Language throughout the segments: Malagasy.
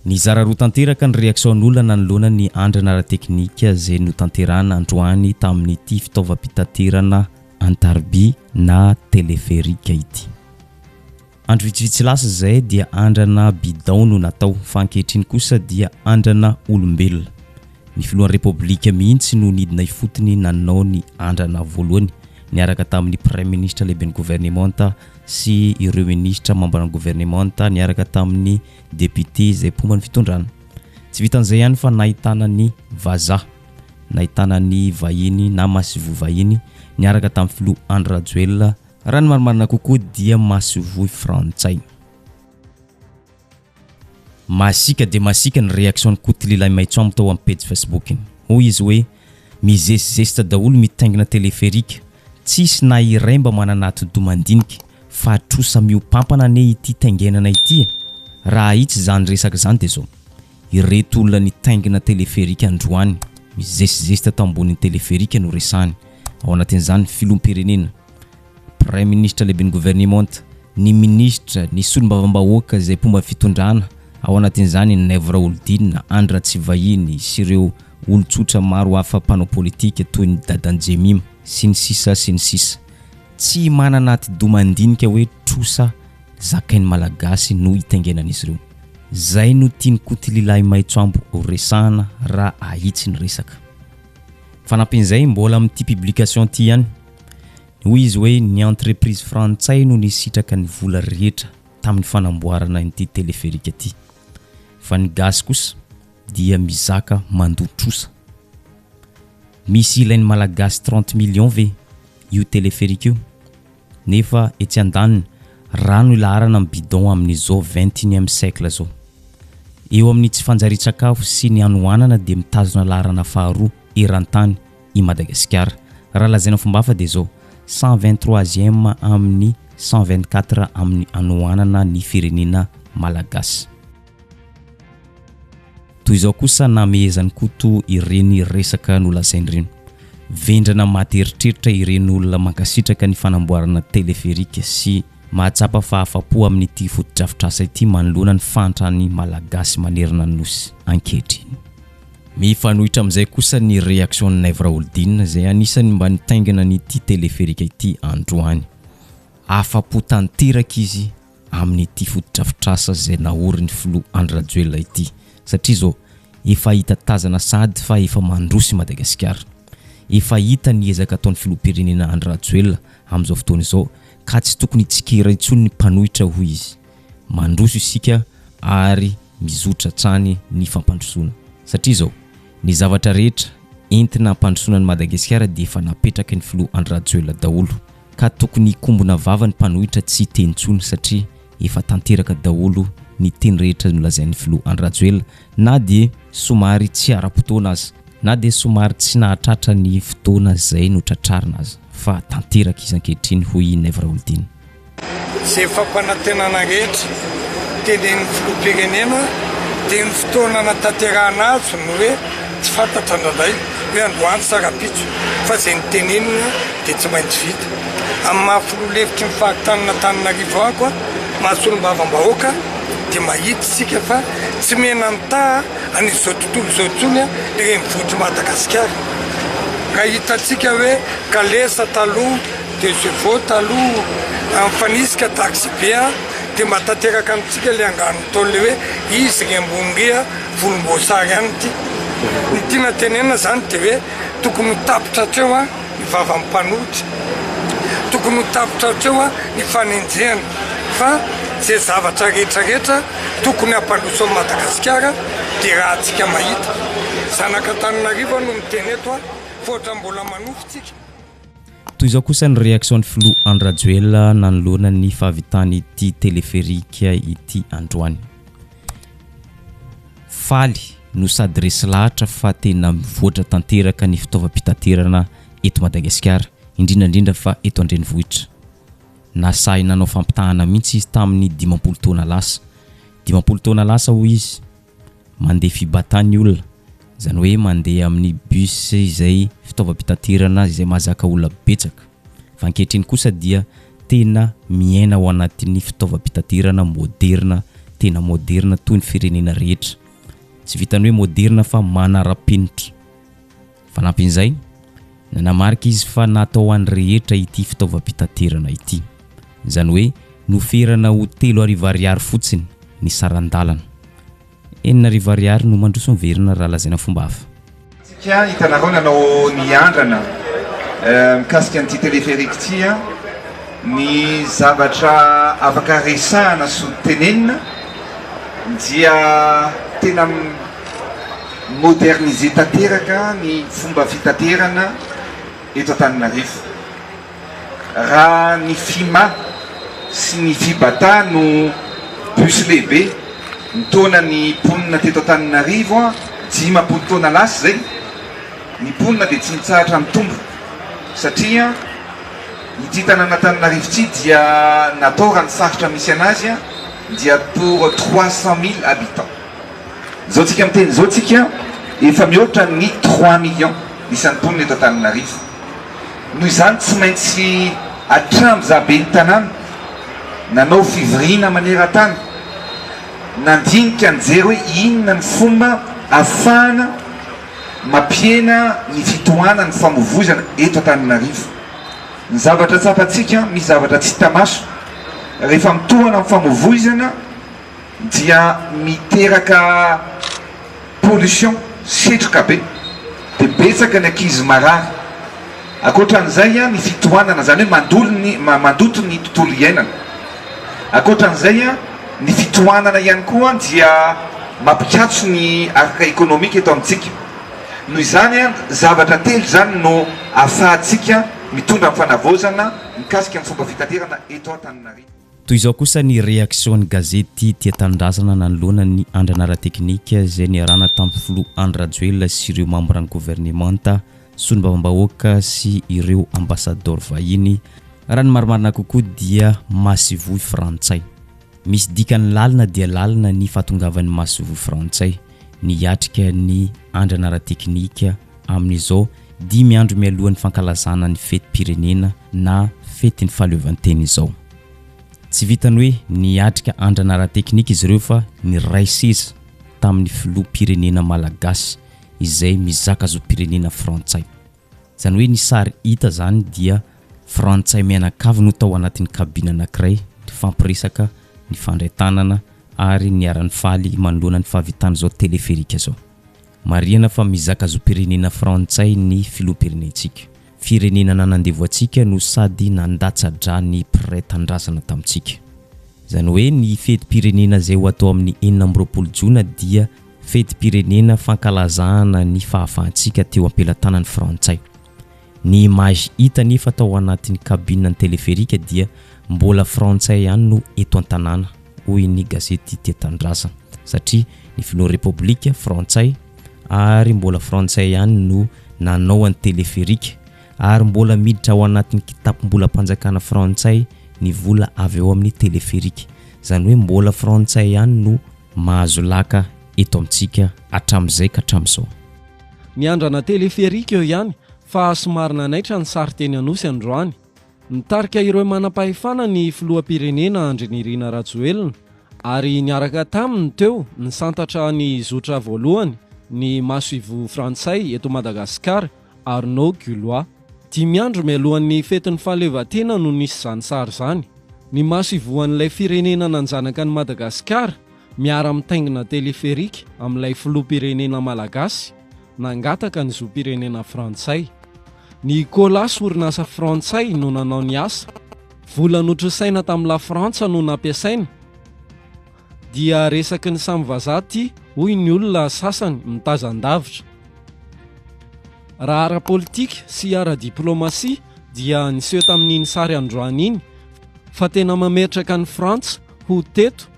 Nizara roa tanteraka ny reaksaon'olona nanoloana ny andrana ara-teknika izay notanterahina androany tamin'ity fitaovam-pitaterana an-tariby na teleferika ity. Andro vitsivitsy lasa izay dia andrana bidon no natao fa ankehitriny kosa dia andrana olombelona. Ny filohan'ny Repoblika mihitsy no nidina ifotony nanao ny andrana voalohany niaraka tamin'ny Praiminisitra lehiben'ny governemanta sy ireo minisitra mamban'ny governemanta niaraka tamin'ny depiote izay mpomba ny fitondrana. Tsy vitan'izay ihany fa nahitana ny vazaha. nahitana ny vahiny na masoivoho vahiny niaraka tamin'ny filoha Andry Rajoelina, raha ny marimarina kokoa dia masoivohy frantsay. Masiaka dia masiaka ny reaction-n'i Koto Lilaimaitsoamo tao amin'ny pejy Facebook-ny. Hoy izy hoe, mizesizesitra daholo mitaingina téléphérique, tsisy na iray mba manana atidoha mandinika, fa trosa mihoampampana anie ity taingenana ity e! Raha ahitsy izany resaka izany dia izao, Ireto olona nitaingina teleferika androany mizesizesy tato ambonin'ny teleferika no resahany, ao anatin'izany ny Filoham-pirenena, Praiminisitra Lehiben'ny Governemanta, ny Minisitra, ny Solombavambahoaka izay mpomba fitondrana, ao anatin'izany i Naivo Raholidinina, Andry Ratsivahiny sy ireo olon-tsotra maro hafa mpanao politika toy ny Dadan'i Jemima, sy ny sisa sy ny sisa. Tsy manana atidoha mandinika hoe trosa Zakain'ny Malagasy no itaingenan'izy ireo. Zay no tian'i Kotililahy Maitsoambo horesahana raha ahitsy ny resaka. Fanampin'izay, mbola amin'ity publication ity ihany, hoy izy hoe ny entreprise frantsay no nisitraka ny vola rehetra tamin'ny fanamboarana an'ity téléphérique ity. Fa ny gasy kosa dia mizaka mandoa trosa. Misy ilain'ny Malagasy trente millions ve io téléphérique io? Nefa etsy andaniny, rano ilaharana amin'ny bidon amin'izao XXIème siècle zao. Eo amin'ny tsy fanjarian-tsakafo sy ny hanohanana dia mitazona laharana faharoa eran-tany i Madagasikara. Raha lazaina fombahafa dia zao, cent vingt troisième amin'ny cent vingt quatre amin'ny hanohanana ny firenena malagasy. Toy izao kosa namehezan'i Koto ireny resaka nolazainy ireny, Vendrana maty eritreritra ireny olona mankasitraka ny fanamboarana teleferika sy mahatsapa fahafa-po amin'ity fotodrafitrasa ity manoloana ny fahantran'ny Malagasy manerana ny Nosy ankehitriny. Mifanohitra amin'izay kosa ny reaction-n'i Naivo Raholdina izay anisan'ny mba nitaingina an'ity teleferika ity androany. Afa-po tanteraka izy amin'ity fotodrafitrasa izay naorin'ny filoha Andry Rajoelina ity satria izao efa hita tazana sahady fa efa mandroso i Madagasikara. Efa hita ny ezaka ataon'ny filoham-pirenena Andry Rajoelina amin'izao fotoana izao ka tsy tokony hitsikera intsony ny mpanohitra hoy izy. Mandroso isika ary mizotra hatrany ny fampandrosoana satria izao ny zavatra rehetra entina hampandrosoana an'i Madagasikara dia efa napetraky ny filoha Andry Rajoelina daholo. ka tokony hikombona vava ny mpanohitra tsy hiteny intsony satria efa tanteraka daholo ny teny rehetra nolazain'ny filoha Andry Rajoelina na dia somary tsy ara-potoana aza, na dia somary tsy nahatratra ny fotoana izay notratrarina aza fa tanteraka izy ankehitriny hoy i Naivo Raholdina. Izay fampanantenana rehetra tenenin'ny filoham-pirenena dia ny fotoana natanterahana azy no hoe Tsy fantatra indraindray hoe androany sa rahampitso fa izay notenenina dia tsy maintsy vita. Amin'ny maha filoha lefitry ny faritanin'Antananarivo aho koa, maha solombavambahoaka, dia mahita isika fa tsy mena-mitaha an'izao tontolo izao intsony ny renivohitr'i Madagasikara. Raha hitantsika hoe kalesa taloha, deux chevaux taloha, mifanisika taxi be dia mba tanteraka amintsika ilay angano nataon'ilay hoe izy ry ambony ry a! volomboasary ihany ity. Ny tiana tenenina izany dia hoe tokony ho tapitra hatreo ny vavan'ny mpanohitra, tokony ho tapitra hatreo ny fanenjehana fa izay zavatra rehetra rehetra tokony hampandroso an'i Madagasikara dia rahantsika mahita. Zanak'Antananarivo no miteny eto fa ohatran'ny mbola manofy tsika. Toy izao kosa ny reaction-n'ny filoha Andry Rajoelina nanoloana ny fahavitan'ity téléphérique ity androany. Faly no sady resy lahatra fa tena mivoatra tanteraka ny fitaovam-pitaterana eto Madagasikara, indrindra indrindra fa eto an-drenivohitra. Nasahy nanao fampitahana mihitsy izy tamin'ny dimampolo taona lasa. Dimampolo taona lasa hoy izy, mandeha Fibata ny olona, izany hoe mandeha amin'ny bus izay fitaovam-pitaterana izay mahazaka olona betsaka. Fa ankehitriny kosa dia tena miaina ao anatin'ny fitaovam-pitaterana moderina, tena moderina toy ny firenena rehetra. Tsy vitan'ny hoe moderina fa manara-penitra. Fanampin'izay, nanamarika izy fa natao ho an'ny rehetra ity fitaovam-pitaterana ity. Izany hoe noferana ho telo arivo ariary fotsiny ny saran-dalana. Enina arivo ariary no mandroso miverina raha lazaina fomba hafa. Tsika hitanareo nanao ny andrana mikasika an'ity téléphérique ity a, ny zavatra afaka resahana sy tenenina dia tena moderniser tanteraka ny fomba fitaterana eto Antananarivo. Raha ny Fima sy ny Fibata no bus lehibe nitaona ny mponina teto Antananarivo dimampolo taona lasa izay, ny mponina dia tsy mitsahatra mitombo satria ity tanàn'Antananarivo ity dia natao raha ny faritra misy an'azy dia pour trois cent mille habitants. Izao tsika miteny izao tsika efa mihoatra ny trois millions isan'ny mponina eto Antananarivo. Noho izany tsy maintsy hatramin'ny za ben'ny tanàna nanao fivoriana maneran-tany nandinika nijery hoe inona ny fomba ahafahana mampihena ny fitohanan'ny famovoizana eto Antananarivo. Ny zavatra tsapantsika, misy zavatra tsy hita maso rehefa mitohana ny famovoizana. dia miteraka pollution, setroka be, dia betsaka ny ankizy marary. Ankoatra an'izay ny fitohanana, izany hoe mandolo ny, mandoto ny tontolo iainana. Ankoatra an'izay ny fitohanana ihany koa dia mampikatso ny araka ekonomika eto amintsika. Noho izany, zavatra telo izany no ahafahantsika mitondra ny fanavaozana mikasika ny fomba fitaterana eto Antananarivo. Toy izao kosa ny reaksion'ny gazety Tia Tanindrazana nanoloana ny andrana ara-teknika izay niarahana tamin'ny filoha Andry Rajoelina sy ireo mambran'ny governemanta, solombavambahoaka sy ireo ambasadaoro vahiny, Raha ny marimarina kokoa dia masoivoho frantsay. Misy dikany lalina dia lalina ny fahatongavan'ny masoivoho frantsay niatrika ny andrana ara-teknika, amin'izao dimy andro mialohan'ny fankalazana ny fetim-pirenena na fetin'ny fahaleovantena izao. Tsy vitan'ny hoe niatrika andrana ara-teknika izy ireo fa niray seza tamin'ny filoham-pirenena malagasy izay mizaka zom-pirenena frantsay. Izany hoe ny sary hita izany dia frantsay mianakavy no tao anatin'ny kabina anankiray nifampiresaka, nifandray tanana ary niara-nifaly manoloana ny fahavitan'izao teleferika izao. Marihana fa mizaka zom-pirenena frantsay ny filoham-pirenentsika. Firenena nanandevo antsika no sady nandatsa-dra ny mpiray tanindrazana tamintsika. Izany hoe ny fetim-pirenena izay ho atao amin'ny enina amby roapolo jona dia fetim-pirenena fankalazahana ny fahafahantsika teo am-pelatanan'ny frantsay. Ny image hita anefa tao anatin'ny cabine ny teleferika dia mbola frantsay ihany no eto an-tanàna, hoy ny gazety Tia Tanindrazana, satria ny filohan'ny Repoblika frantsay ary mbola frantsay ihany no nanao an'ny teleferika ary mbola miditra ao anatin'ny kitapom-bolam-panjakana frantsay ny vola avy ao amin'ny teleferika. Izany hoe mbola frantsay ihany no mahazo laka eto amintsika hatramin'izay ka hatramin'izao. Miandrana téléphérique eo ihany fa somary nanaitra ny sary teny Anosy androany. Nitarika ireo manam-pahefana ny filoham-pirenena Andry Nirina Rajoelina ary niaraka taminy teo nisantatra ny zotra voalohany ny masoivoho frantsay eto Madagasikara, Arnaud Gulois. Dimy andro mialohan'ny fetin'ny fahaleovantena no nisy izany sary izany. Ny masoivohon'ilay firenena nanjanaka an'i Madagasikara Miara-mitaingina téléphérique amin'ilay filoham-pirenena malagasy nangataka ny zom-pirenena frantsay. Ny Colas orinasa frantsay no nanao ny asa. Vola notrosaina tamin'i Lafrantsa no nampiasaina. Dia resaky ny samy vazaha ity hoy ny olona sasany mitazan-davitra. Raha ara-politika sy ara-diplaomasia dia niseho tamin'iny sary androany iny fa tena mametraka an'i Frantsa ho teto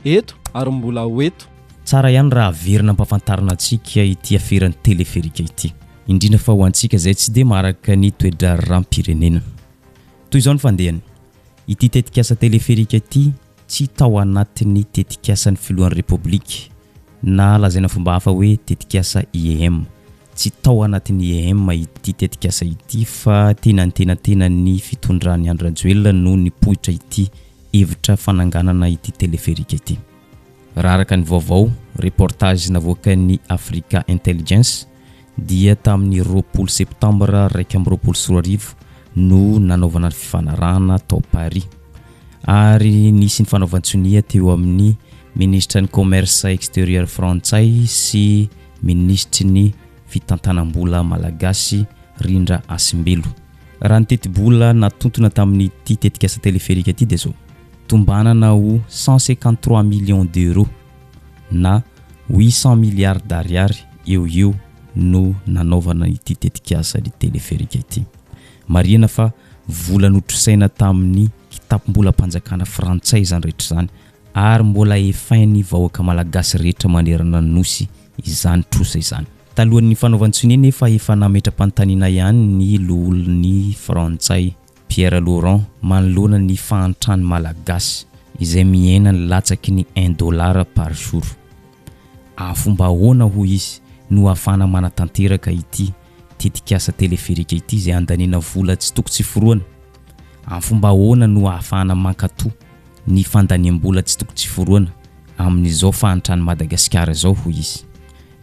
Eto ary mbola ho eto. Tsara ihany raha averina ampafantarina antsika ity aferan'ny teleferika ity, indrindra fa ho antsika izay tsy dia maharaka ny toe-draharaham-pirenena. Toy izao ny fandehany, ity tetikasa teleferika ity tsy tao anatin'ny tetikasan'ny filohan'ny Repoblika, na lazaina fomba hafa hoe tetikasa IEM. Tsy tao anatin'ny IEM ity tetikasa ity fa teny antenantenan'ny fitondran'i Andry Rajoelina no nipoitra ity hevitra fananganana ity teleferika ity. Raha araka ny vaovao, reportage, navoakan'ny Africa Intelligence dia tamin'ny roapolo Septambra iraika amby roapolo sy roa arivo no nanaovana ny fifanarahana tao Paris ary nisy ny fanaovan-tsonia teo amin'ny Minisitra ny Commerce Exterieur frantsay sy Minisitry ny Fitantanam-bola malagasy Rindra Hasimbelo. Raha ny tetibola natontona tamin'ity tetikasa teleferika ity dia izao, tombanana ho cent cinquante trois millions d'euros na huit cents milliards d'ariary eo ho eo no nanaovana ity tetikasa ny teleferika ity. Marihina fa vola notrosaina tamin'ny kitapom-bolam-panjakana frantsay izany rehetra izany ary mbola efain'ny vahoaka malagasy rehetra manerana ny Nosy izany trosa izany. Talohan'ny fanaovan-tsonia nefa efa nametra-panontaniana ihany ny loholon'ny frantsay, Pierre Laurent, manoloana ny fahantran'ny Malagasy izay mihena ny latsaky ny un dollar par jour. A fomba ahoana hoy izy no ahafahana manatanteraka ity tetikasa teleferika ity izay andaniana vola tsy toko tsy foroana? A fomba ahoana no ahafahana mankato ny fandaniam-bola tsy toko tsy foroana amin'izao fahantran'i Madagasikara izao hoy izy?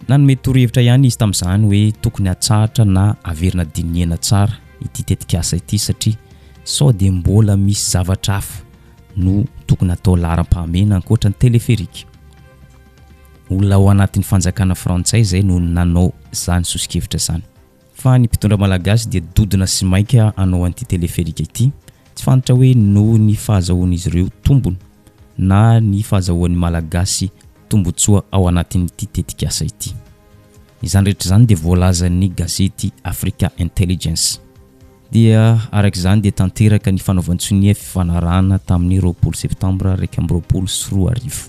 Nanome torohevitra ihany izy tamin'izany hoe tokony hatsahatra na haverina dinihana tsara ity tetikasa ity satria sao dia mbola misy zavatra hafa no tokony hatao laharam-pahamehana ankoatra ny téléphérique. Olona ao anatin'ny fanjakana frantsay izay no nanao izany soso-kevitra izany. Fa ny mpitondra malagasy dia dodona sy mainka hanao an'ity teleferika ity, tsy fantatra hoe noho ny fahazahoan'izy ireo tombony na ny fahazahoan'ny malagasy tombotsoa ao anatin'ity tetikasa ity. Izany rehetra izany dia voalazan'ny gazety Africa Intelligence. Dia araka izany dia tanteraka ny fanaovan-tsonia fifanarahana tamin'ny roapolo septambra iraika amby roapolo sy roa arivo.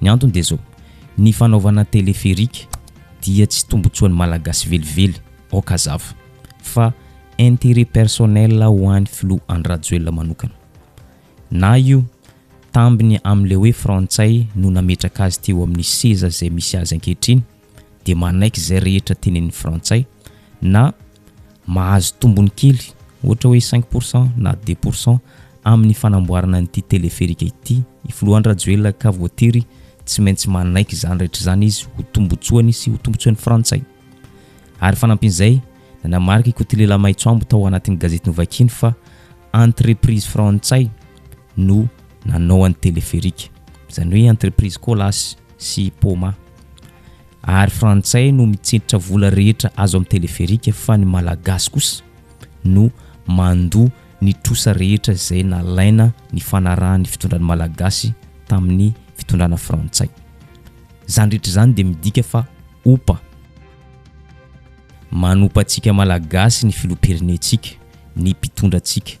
Ny antony dia izao, ny fanaovana téléphérique dia tsy tombotsoan'ny Malagasy velively aoka hazava, fa intérêt personnel ho an'ny Filoha Andry Rajoelina manokana. Na io tambiny amin'ilay hoe Frantsay no nametraka azy teo amin'ny seza izay misy azy ankehitriny, dia manaiky izay rehetra tenenin'ny frantsay na mahazo tombony kely ohatra hoe cinq pour cent na deux pour cent amin'ny fanamboarana an'ity teleferika ity i Filohan-dRajoelina ka voatery tsy maintsy manaiky izany rehetra izany izy ho tombotsoany sy ho tombotsoan'ny frantsay. Ary fanampin'izay, nanamarika i Kotilela Maitsoambo tao anatin'ny gazety novakiany fa entreprise frantsay no nanao an'i Téléphérique, izany hoe entreprise Colas sy Poma. Ary frantsay no mitsentitra vola rehetra azo amin'ny Téléphérique fa ny malagasy kosa no mandoa ny trosa rehetra izay nalaina nifanarahan'ny fitondran'ny malagasy tamin'ny fitondrana frantsay. Izany rehetra izany dia midika fa opa. Manompa antsika malagasy ny filoham-pirenentsika, ny mpitondra antsika.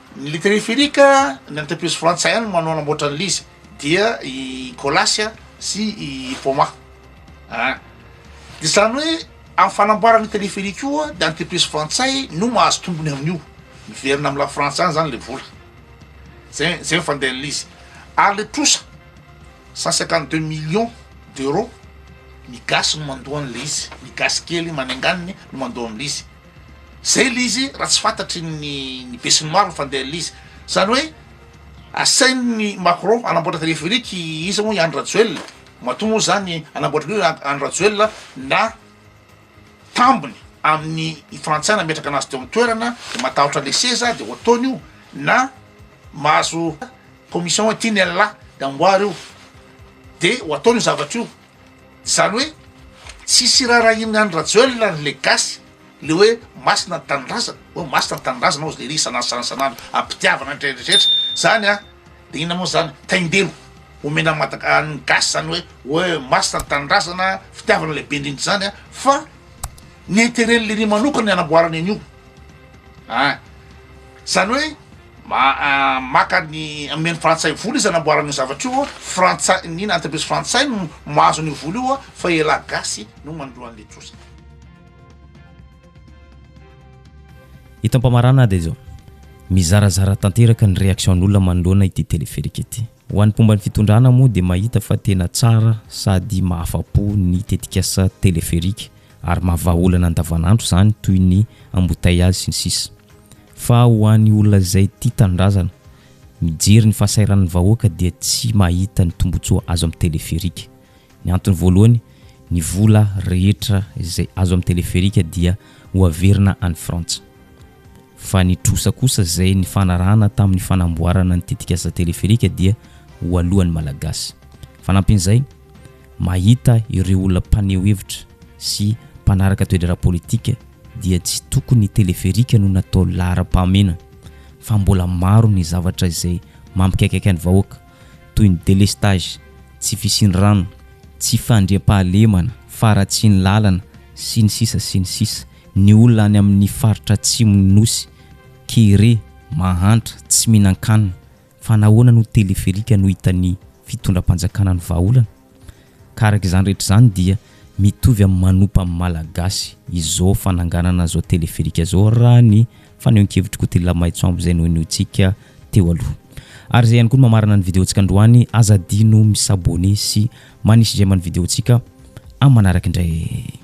Ny teleferiaka, ny any Tapiosy frantsay any manao anamboatra an'ilay izy dia i Colas sy i Poma a. Dia izany hoe amin'ny fanamboarana io teleferiaka io dia ny Tapiosy frantsay no mahazo tombony amin'io, miverina amin'i Lafrantsa any izany ilay vola, zay zay no fandehan'ilay izy ary ilay trosa cent cinquante deux millions d'euros ny gasy no mandoa an'ilay izy, ny gasy kely manenganiny no mandoa an'ilay izy. Zay le izy raha tsy fantatry ny ny besinimaro ny fandehan'le izy. Zany hoe asain'ny Macron hanamboatra téléphérique i iza moa i Andry Rajoelina, matoa moa zany hanamboatra an'io Andry Rajoelina na tambiny amin'ny i Frantsay nametraka anazy teo an-toerana de matahotra le seza de ho ataony io na mahazo commission hoe ty ny an'la de amboary io de ho ataony io zavatra io. Zany hoe tsisy irarahian'i Andry Rajoelina ny le gasy le hoe masina ny tanindrazana oh masina ny tanindrazana ozy lery isan'andro ampitiavana ny rehetra zany a de inona moa zany taindelo omena madaka ny gasy zany hoe hoe masina ny tanindrazana fitiavana lehibe indrindra zany a fa ny interet lery manokana ny anamboarana an'io An! Izany hoe maka ny, omena ny frantsay vola izy hanamboarany io zavatra io, frantsay, ny inona, entreprise frantsay no mahazo an'io vola io fa elah gasy no manolo an'ilay trosa. Eto am-pamarana dia izao, mizarazara tanteraka ny réaction'olona manoloana ity téléphérique ity. Ho an'ny mpomba ny fitondrana moa dia mahita fa tena tsara sady mahafa-po ny tetikasa téléphérique ary mahavaha olana andavanandro izany toy ny embouteillages sy ny sisa Fa ho any olona izay tia tanindrazana, mijery ny fahasahiranan'ny vahoaka dia tsy mahita ny tombotsoa azo amin'ny teleferika. Ny antony voalohany, ny vola rehetra izay azo amin'ny teleferika dia ho averina any Frantsa. Fa ny trosa kosa izay nifanarahana tamin'ny fanamboarana ny tetikasa teleferika dia ho aloan'ny Malagasy. Fanampin'izay, Mahita ireo olona mpaneho hevitra sy mpanaraka toedraharaha politika dia tsy tokony ny teleferika no natao laharam-pahamena fa mbola maro ny zavatra izay mampikaikaika ny vahoaka toy ny delestage, tsy fisian'ny rano, tsy fandriampahalemana, faharatsian'ny lalana sy ny sisa sy ny sisa Ny olona any amin'ny faritra atsimon'ny Nosy, kere, mahantra, tsy mihinan-kanina, Fa nahoana no teleferika no hitan'ny fitondram-panjakana ny vahaolana? Ka araka izany rehetra izany dia mitovy amin'ny manompa amin'ny Malagasy izao fananganana izao teleferika izao raha ny fanehoan-kevitr'i Kotila Maitsoambo izay nohenointsika teo aloha. Ary izay ihany koa no mamarana ny videontsika androany, aza adino mi s'abonner sy manisy j'aime ny videontsika amin'ny manaraka indray.